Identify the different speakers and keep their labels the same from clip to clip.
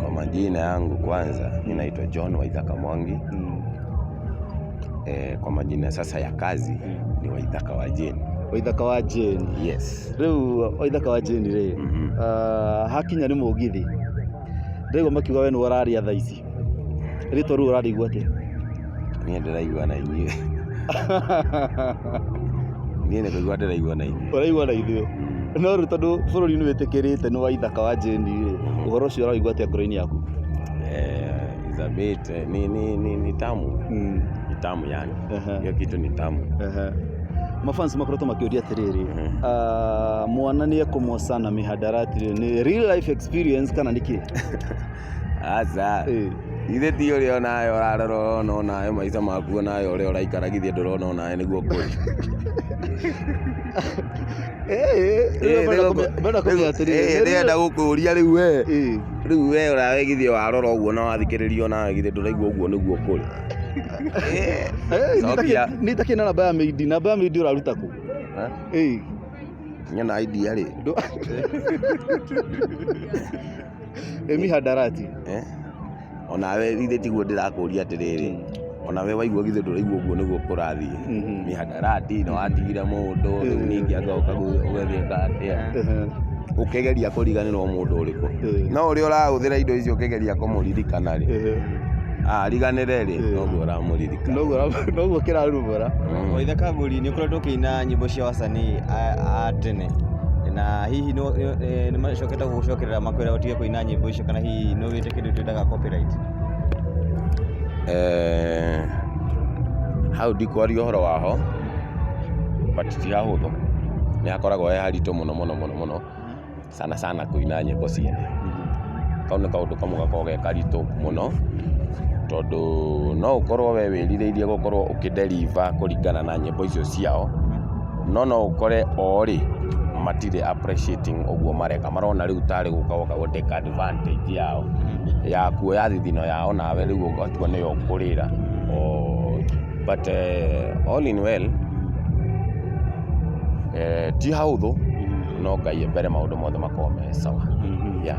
Speaker 1: Kwa majina yangu kwanza, mi naitwa John Waithaka Mwangi. Eh, kwa majina sasa ya kazi ni Waithaka wa Jane. waithaka wa jeni
Speaker 2: Yes. riu
Speaker 1: waithaka wa
Speaker 2: jeni ri Mhm. Ah, hakinya nĩ mũgithi ndaigua makiuga we nĩ ũraria thaa ici rĩtwa rĩu ũrarĩigua atĩa Niĩ
Speaker 1: ndĩraigua na inyuĩ. Niĩ nĩ kũigua ndĩraigua na inyuĩ. Ũraigua na ithuĩ.
Speaker 2: No rĩu tondũ bũrũri nĩ wĩtĩkĩrĩte nĩ wa ithaka wa Jane rĩ, ũhoro ũcio ũraigua atĩa ngoro-inĩ yaku?
Speaker 1: Eh, it's a bit, eh, ni, ni, ni, ni tamu. Mm. Ni tamu yani. Ehe. Hiyo kitu ni tamu. Ehe.
Speaker 2: Mafans makoretwo makĩũria atĩrĩrĩ, Mhm. ah, mwana nĩ ekũmoca na mĩhandarati rĩ, nĩ real life experience kana nĩ kĩ?
Speaker 1: Aca, githĩ ti ũrĩa onawe ũrarora ũrona onawe maica maku onawe ũrĩa ũraikara githĩ ndũrona onawe nĩguo kũrĩ. Ndĩrenda gũkũria rĩu we, rĩu we onawe githĩ warora ũguo na wathikĩrĩria onawe githĩ ndũraigua ũguo nĩguo kũrĩ. Cokia.
Speaker 2: nä itakä na namba ya meidi namba ya meidi å raruta kå
Speaker 1: Nyona idea rĩ.
Speaker 2: ĩ mihandarati Eh?
Speaker 1: onawe githĩ tiguo ndĩrakũria atĩrĩrĩ onawe waigua githĩ ndũraigua ũguo nĩguo kũrathiĩ Mhm. mĩhandarati na watigire mũndũ rĩu Mhm. ningĩ anga ũkagu- ũgagĩka atĩa Ehe. ũkĩgeria kũriganĩrwo mũndũ ũrĩkũ Mhm. no ũrĩa ũrahũthĩra indo icio ũkĩgeria kũmũririkana rĩ Ehe. ariganĩre rĩ Mhm. noguo ũramũririkana Noguo ra- noguo
Speaker 2: kĩrarumũra Mm. waitha kagũri
Speaker 3: nĩ ũkoretwo ũkĩina nyĩmbo cia wasanii a a tene na hihi nĩ- nĩ- nĩ macokete Gũcokerera makwĩra ũtige kũina nyĩmbo icio kana hihi nĩ ũgĩte kĩndũ twĩtaga copyright? Eh,
Speaker 1: hau ndikwaria ũhoro waho but ti hahũthũ nĩ hakoragwo he haritũ mũno mũno mũno mũno sana sana kũina nyĩmbo ciene kau nĩ kaũndũ kamwe gakoragwo ge karitũ mũno tondũ no ũkorwo we wĩrirĩirie gũkorwo ũkĩ deliver kũringana na nyĩmbo icio ciao no no ũkore oo rĩ matirĩ appreciating ũguo mareka marona rĩu tarĩ gũka woka gũ take advantage yao ya kuoya thithino yao nawe rĩu ũgatua nĩyo ũkũrĩra oo but eh, all in well eh, ti haũthũ no ngai mbere maũndũ mothe makorwo me sawa yeah.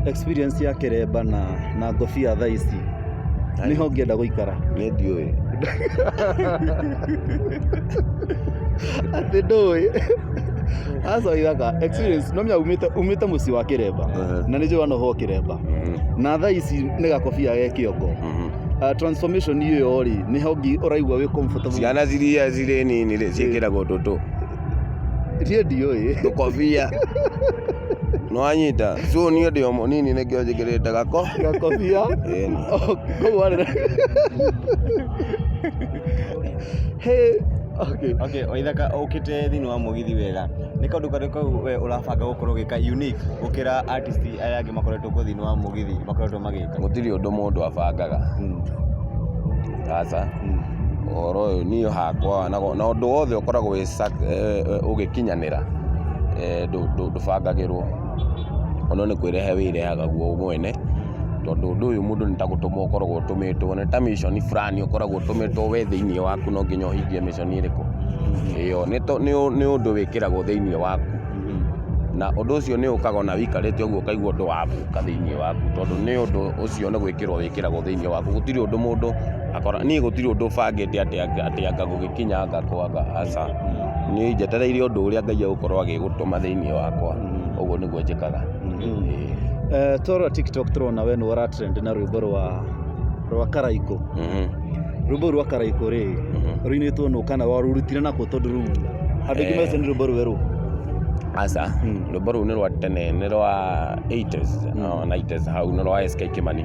Speaker 1: experience
Speaker 2: ya keremba na na ngobia thaa ici niho ngĩenda gũikara nĩ ndiũĩ atĩ ndũĩ aca ithaka experience no mya umite umite muci wa kiremba Eh. na nijua no ho kiremba na thaa ici nĩ gakobia ge kĩongo uh, transformation iyo rĩ nĩ hongi ũraigua wĩ comfortable ciana ciria cirĩ
Speaker 1: nini rĩ ciĩkĩragwo tũtũ
Speaker 2: tie ndiũĩ tũkobia
Speaker 1: nwanyita so niĩ ndĩ o mũnini nĩkĩo njĩkĩrĩte gako gakobia
Speaker 2: Ĩni. koguo rĩ
Speaker 3: Okay. Okay, waithaka ukite thini wa mugithi wega ni kaundu kari kau we urabanga gukorwo gika unique gukira artist aya angi makoretwo ku thini wa mugithi makoretwo magika gutiri undu mundu
Speaker 1: abangaga hmm. aca hmm. uhoro uyu ni hakwa na undu wothe ukoragwo ugikinyanira eh, eh, ndubangagiru O no nĩ kwĩrehe wĩrehaga guo mwene, tondũ ũndũ ũyũ mũndũ nĩ ta gũtũmwo ũkoragwo ũtũmĩtwo, nĩ ta mission fulani ũkoragwo ũtũmĩtwo we thĩiniĩ waku no nginya ũhingie mission ĩrĩkũ. Ĩyo nĩ ũndũ wĩkĩragwo thĩiniĩ waku, na ũndũ ũcio nĩ ũkaga o na wĩikarĩte ũguo ũkaigua ũndũ wa gũka thĩiniĩ waku, tondũ nĩ ũndũ ũcio nĩ gwĩkĩrwo wĩkĩragwo thĩiniĩ waku. Gũtirĩ ũndũ mũndũ, niĩ gũtirĩ ũndũ bangĩte atĩ anga gũgĩkinya anga kwaga, aca. Niĩ njetereire ũndũ ũrĩa Ngai egũkorwo agĩgũtũma thĩinĩ wakwa ũguo nĩguo njĩkaga
Speaker 2: Ĩĩ. Toro TikTok tũrona we nĩwe ũratrend na rwĩmbo rwa rwa Karaikũ. Mhm. Rwĩmbo rwa Karaikũ rĩ, rũinĩtwo nũ kana warũrutire nakũ tondũ rĩu andũ aingĩ mecũrania nĩ rwĩmbo rwerũ. Aca,
Speaker 1: rwĩmbo rũu nĩ rwa tene nĩ rwa 80s, no, 90s hau nĩ rwa SK Kĩmani.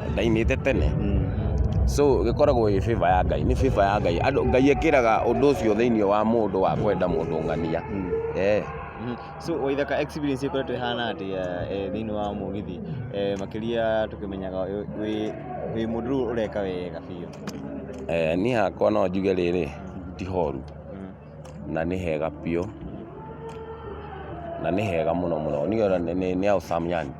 Speaker 1: ndaimĩte tene. So ĩkoragwo ĩ favour ya Ngai, nĩ favour ya Ngai. Andũ Ngai ekĩraga ũndũ ũcio thĩinĩ wa mũndũ wa kwenda mũndũ ng'ania. Eeh.
Speaker 3: So Waithaka experience ĩkoretwo ĩhana atĩa eh, thĩinĩ wa mũgithi Eh, makĩria tũkĩmenyaga wĩ- wĩ wĩ mũndũ rĩu ũreka wega biũ? Eh, niĩ hakwa no
Speaker 1: njuge rĩrĩ, ti horu. na nĩ hega biũ, na nĩ hega mũno mũno, nĩ house some yani.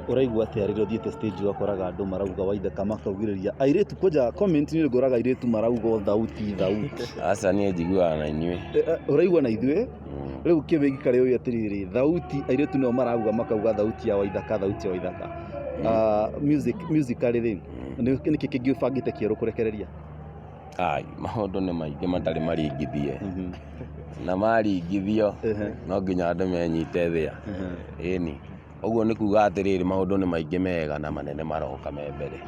Speaker 2: Ũraigua atĩa rĩrĩa ũthiĩte stage ũgakoraga andũ marauga Waithaka makaugĩrĩria airĩtu kwanja comment inĩ ngoraga airĩtu marauga o thauti thauti. Aca niĩ
Speaker 1: njiguaga na inyuĩ. Ũraigua na ithuĩ?
Speaker 2: Rĩu kĩwĩgi karĩ ũĩ atĩrĩrĩ, thauti airĩtu nĩo marauga makauga thauti ya Waithaka, thauti ya Waithaka. Music, musically rĩ, nĩkĩ kĩngĩ ũbangĩte kĩerũ kũrekereria? Ai,
Speaker 1: maũndũ nĩ maingĩ matarĩ maringithie na maringithio no nginya andũ menyite thĩa ĩni ũguo nĩ kuga atĩrĩrĩ maũndũ nĩ maingĩ mega na manene maroka me mbere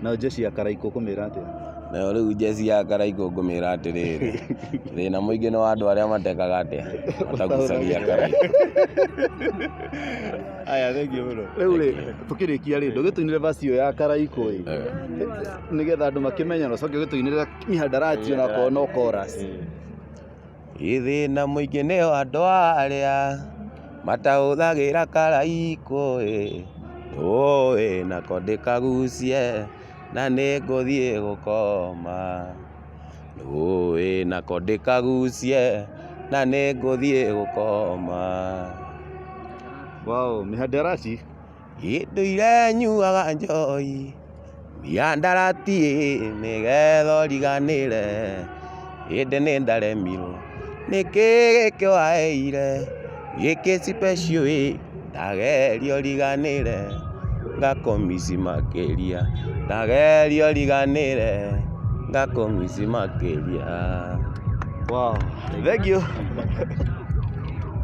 Speaker 1: Nayo
Speaker 2: jeshi ya Karaikũ ũkũmĩra atĩa? nayo rĩu njeci
Speaker 1: ya karaigũ ngũmĩra atĩrĩrĩ thĩna mũingĩ nĩ wa andũ arĩa matekaga atĩa matagucagia karaigũ
Speaker 3: Aya, thengiũ mũno. Rĩu rĩ, tũkĩrĩkia
Speaker 2: rĩ, ndũgĩtũinĩre verse ĩyo ya Karaikũ ĩ. nĩgetha andũ makĩmenye na ũcoke ũgĩtũinĩrĩra mihandarati ona akorwo no chorus
Speaker 1: Gĩthĩna mũingĩ nĩ andũ arĩa matahũthagĩra karaiko ĩ ũĩ nako ndĩkagucie na nĩ ngũthiĩ gũkoma ũĩ nako ndĩkagucie na nĩ ngũthiĩ gũkoma. Wow,
Speaker 2: mihandarati. Gĩndũire
Speaker 1: nyuaga njohi, miandarati ĩ, nĩgetha ũriganĩre, ĩndĩ nĩ ndaremirwo, nĩkĩ gĩkĩ waheire, gĩkĩ special ĩ, ndageria ũriganĩre, ngakũ miss makĩria, ndageria ũriganĩre, ngakũ miss
Speaker 2: makĩria. Thengiũ.